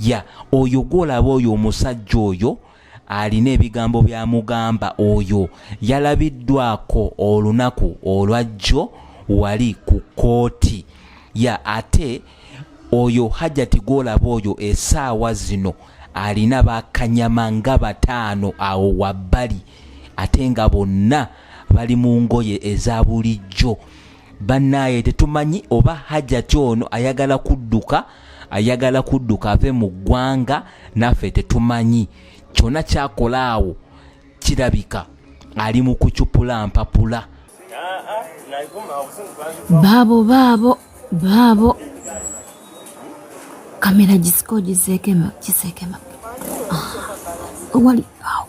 ya oyo gwolaba oyo omusajja oyo alina ebigambo byamugamba oyo yalabiddwako olunaku olwajjo wali ku kooti ya ate oyo hajati gwolaba oyo esaawa zino alina bakanyama nga bataano awo wabbali ate nga bonna bali mu ngoye eza bulijjo bannaaye tetumanyi oba hajati ono ayagala kudduka ayagala kudduka ave mu ggwanga naffe tetumanyi kyona kyakola awo kirabika ali mu kucupula mpapula baabo baabo baabo kamera gisiko gisekema kisekema ah, wali awo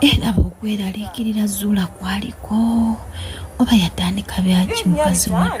era bwokweraliikirira zuula kwaliko oba yatandika byaki mukazi wattu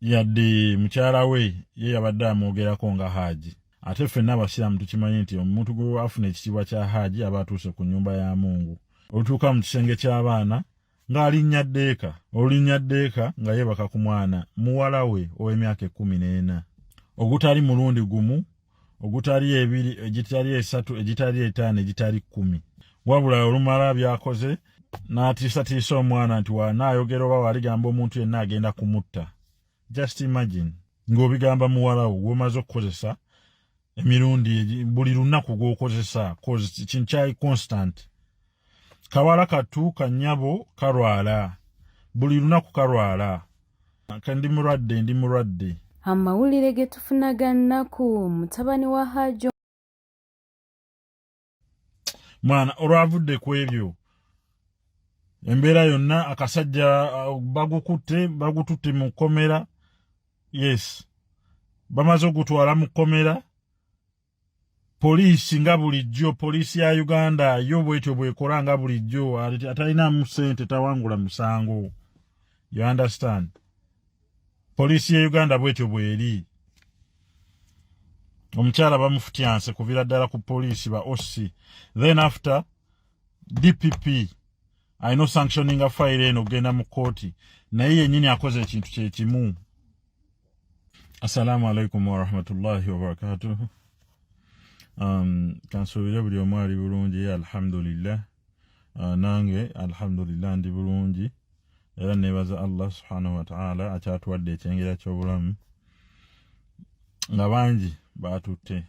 yadde mukyala we ye yabadde amwogerako nga haaji ate ffenna abasiraamu tukimanyi nti omuntu gwe afuna ekitiibwa kya haaji aba atuuse ku nnyumba ya mungu olutuuka mu kisenge ky'abaana ng'alinnya ddeeka olulinnya ddeeka nga yeebaka ku mwana muwala we ow'emyaka ekkumi n'ena ogutali mulundi gumu ogutali ebiri egitali esatu egitali etaano egitali kkumi wabula olumala byakoze n'atiisatiisa omwana nti wanaayogera oba waaligamba omuntu yenna agenda kumutta just imagine ng'obigamba muwalawo gwomaze okukozesa emirundi buli lunaku gwokozesa cause kinkyai constant kawala katu kanyabo kalwala buli lunaku kalwala kandi mulwadde ndi mulwadde amawulire ge tufuna ga nnaku mutabani wa hajo mwana olwavudde ku ebyo embeera yonna akasajja uh, bagukutte bagututte mu kkomera yes bamaze ogutwala mu kkomera poliisi nga bulijjo poliisi ya uganda yo bwetyo bwekora nga bulijjo atalinamu sente tawangula musango you understand poliisi ya uganda bwetyo bweri omukyala bamufutyanse kuvira ddala ku poliisi ba oc then after dpp alina osanctioninga fayiro eno okugenda mu kkooti naye yennyini akoze ekintu kyekimu assalamu alaikum warahmatullahi wabarakatuhu um, kansuubire buli omu ali bulungi alhamdulillah uh, nange alhamdulillah ndi bulungi era nebaza allah subhanahu wataala akyatuwadde ekyengera kyobulamu nga bangi baatutte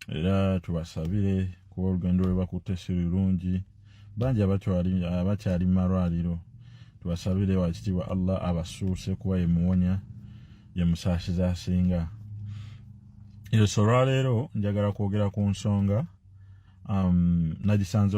era tubasabire kuba olugendo lwe bakutte si lulungi bangi abakyali mu malwaliro tubasabire wakitiibwa allah abasuuse kuba yemuwonya yemusaasiza asinga eso olwaleero njagala kwogera ku nsonga um, nagisanze